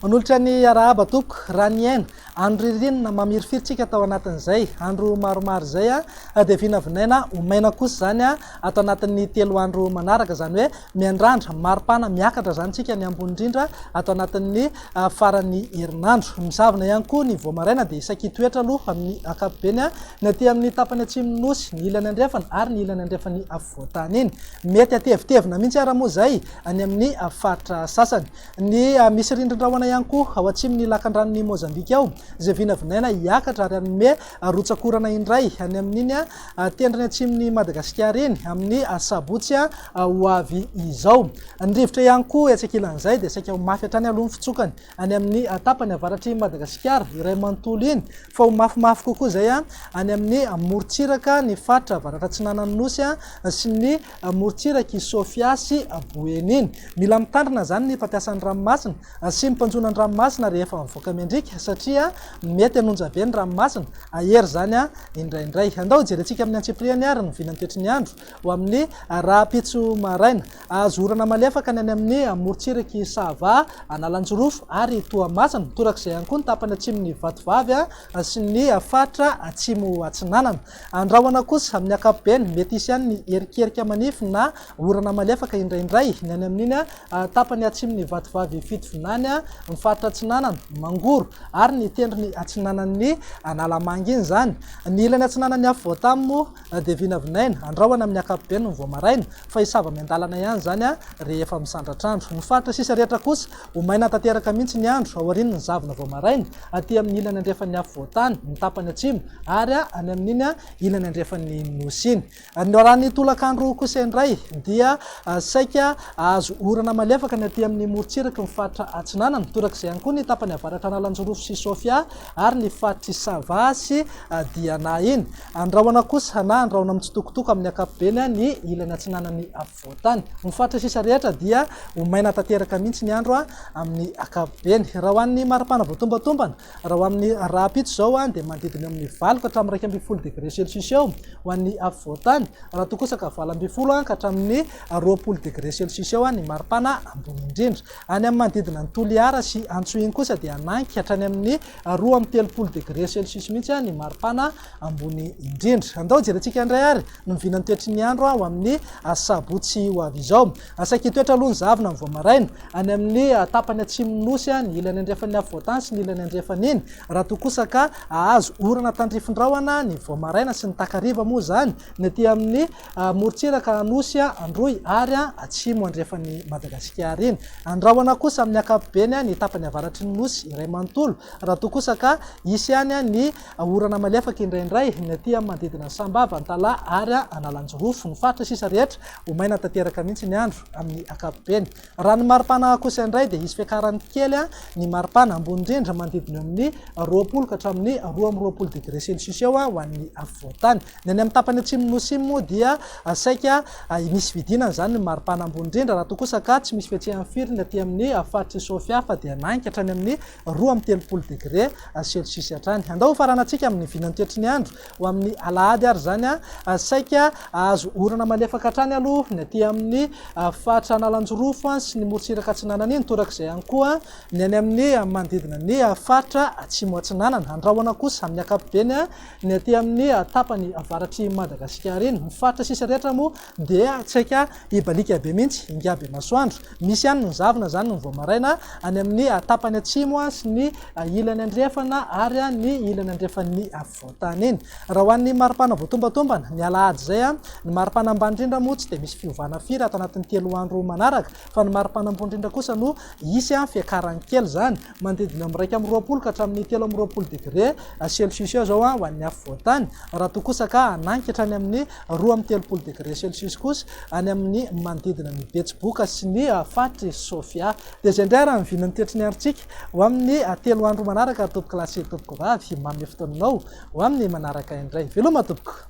Manolotra ny arahaba tompoko raha niaina andro ririnina mamirifiritsika tao anatin'izay andro maromaro izay dia vinavinaina ho maina kosa izany ato anatin'ny telo andro manaraka izany hoe Miandrandra, maripana, miakatra izany tsika ny ambony indrindra ato anatin'ny faran'ny herinandro. Misavona ihany koa ny vao maraina dia saiky hitoetra aloha amin'ny ankapobeny ny aty amin'ny tapany atsimon'ny Nosy, ny ilany andrefana ary ny ilany andrefan'ny afovoan-tany iny. Mety hatevitevina mihitsy ara moa izay any amin'ny faritra sasany. Ny misy rindrin-drahona ihany koa ao atsimon'ny lakandranon'i Mozambika ao izay vinavinaina hiakatra ary hanome rotsak'orana indray any amin'iny Tendrony atsimon'i Madagasikara eny, amin'ny asabotsy ho avy izao. Ny rivotra ihany koa etsy ankilan'izay dia saika ho mafy hatrany aloha ny fitsokany any amin'ny tapany avaratr'i Madagasikara iray manontolo iny, fa ho mafimafy kokoa izay any amin'ny morontsiraka ny faritra avaratra-atsinanan'ny Nosy sy ny morontsirak'i Sofia sy Boeny iny. Mila mitandrina izany ny mpampiasa ny ranomasina Asiany mpanjona ny ranomasina rehefa mivoaka miandriaka satria mety hanonja be ny ranomasina, hahery izany indraindray. Andao hijerentsika amin'ny antsipiriany àry ny vinan'ny toetry ny andro ho amin'ny rahampitso maraina. Hahazo orana malefaka ny any amin'ny morontsirak'i Sava, Analanjirofo ary Toamasina. Torak'izay ihany koa ny tapany atsimon'i Vatovavy sy ny faritra atsimo-atsinanana. Andrahona kosa amin'ny ankapobeny, mety hisy ihany ny erikerika manify na Orana malefaka indraindray ny any amin'iny tapany atsimo ny vatovavy Fitovinany ny faritra atsinanana, Mangoro, ary ny tendrony atsinanan'ny Analamanga iny izany. Ny ilany atsinanan'ny Afovoantany moa dia vinavinaina, andrahona amin'ny ankapobeny ny vao maraina, fa hisava miandalana ihany izany rehefa misandratra andro. Ny faritra sisa rehetra kosa ho maina tanteraka mihitsy ny andro aorian'ny zavona vao maraina, aty amin'ny ilany andrefan'ny Afovoantany, ny tapany atsimo, ary any amin'iny ilany andrefan'ny Nosy iny. Ny loharanon'ny tolakandro kosa indray dia saika hahazo orana malefaka ny aty amin'ny morontsiraky ny faritra Atsinanana, torak'izay ihany koa ny tapany avaratra Analanjirofo sy Sofia ary ny faritr'i Sava sy Diana iny. Andrahona kosa na andrahona mitsitokotoko amin'ny ankapobeny ny ilany atsinanan'ny afovoan-tany. Ny faritra sisa rehetra dia ho maina tanteraka mihitsy ny andro amin'ny ankapobeny. Raha ho an'ny mari-pana voatombatombana Raha ho amin'ny rahampitso izao dia manodidina eo amin'ny valo ka hatramin'ny iraika ambin'ny folo degre celsius eo ho an'ny afovoan-tany, raha toa kosa ka valo ambin'ny folo ka hatramin'ny roapolo degre celsius eo ny maripana ambony indrindra. Any amin'ny manodidina an'i Toliara sy Antsohihy kosa dia hanangy hatrany amin'ny roa amby telopolo degre celsius mihitsy ny maripana ambony indrindra. Andao jerentsika indray ary ny mivinan'ny toetry ny andro ho amin'ny asabotsy ho avy izao. Saiky hitoetra aloha ny zavona amin'ny voamaraina. Any amin'ny tapany atsimon'ny nosy, ny ilany andrefan'ny afovoantany sy ny ilany andrefan'iny, raha toa kosa ka hahazo orana tandrifin-drahona ny voamaraina sy ny takariva moa izany ny aty amin'ny morontsiraka Anosy Androy ary atsimo andrefan'i Madagasikara iny. Andrahona kosa amin'ny ankapobeny ny tapany avaratry ny nosy iray manontolo raha toa kosa ka hisy ihany ny Orana malefaka indraindray ny aty amin'ny manodidina an'i Sambava, Antalaha ary Analanjirofo. Ny faritra sisa rehetra ho maina tanteraka mihitsy ny andro amin'ny ankapobeny. Raha ny maripana kosa indray dia hisy fiakarany kely ny maripana, ambony indrindra manodidina eo amin'ny roapolo ka hatramin'ny roa amby roapolo degré celsius eo ho an'ny afovoan-tany. Ny any amin'ny tapany atsimon'ny Nosy iny moa dia saika misy fidinana izany ny maripana ambony indrindra raha toa kosa ka tsy misy fihetsehany firy ny aty amin'ny faritr'i Sofia fa dia nanika hatrany amin'ny roa amby telopolo degre celsius hatrany. Andao hofaranantsika amin'ny vinantoetry ny andro ho amin'ny alahady ary izany. Saika hahazo orana malefaka hatrany aloha ny aty amin'ny faritra Analanjirofo sy ny morontsiraka atsinanana iny, torak'izay ihany koa ny any amin'ny manodidina ny faritra Atsimo Atsinanana. Andrahona kosa amin'ny ankapobeny ny aty amin'ny tapany avaratr'i Madagasikara iny. Ny faritra sisa rehetra moa Dia tsaika hibaliaka be mihitsy ingahy Bemasoandro. Misy ihany ny zavona izany ny vao maraina, any amin'ny tapany atsimo sy ny ilany andrefana ary ny ilany andrefan'ny afovoan-tany iny. Raha ho an'ny maripana voatombatombana, ny alahady izay, ny maripana ambany indrindra moa tsy dia misy fiovana firy ato anatin'ny telo andro manaraka, fa ny maripana ambony indrindra kosa no hisy fiakarany kely izany. manodidina ny iraika amby roapolo ka hatramin'ny telo amby roapolo degre celsius eo izao ho an'ny afovoantany, raha toa kosa ka hanangy ka hatrany amin'ny roa amby telopolo degre celsius kosa any amin'ny manodidina ny Betsiboka sy ny faritry Sofia. Dia izay indray ary ny vinan'ny toetry ny androntsika ho amin'ny telo andro manaraka tompokolahy sy tompokovavy, manome fotoananao ho amin'ny manaraka indray. Veloma tompoko!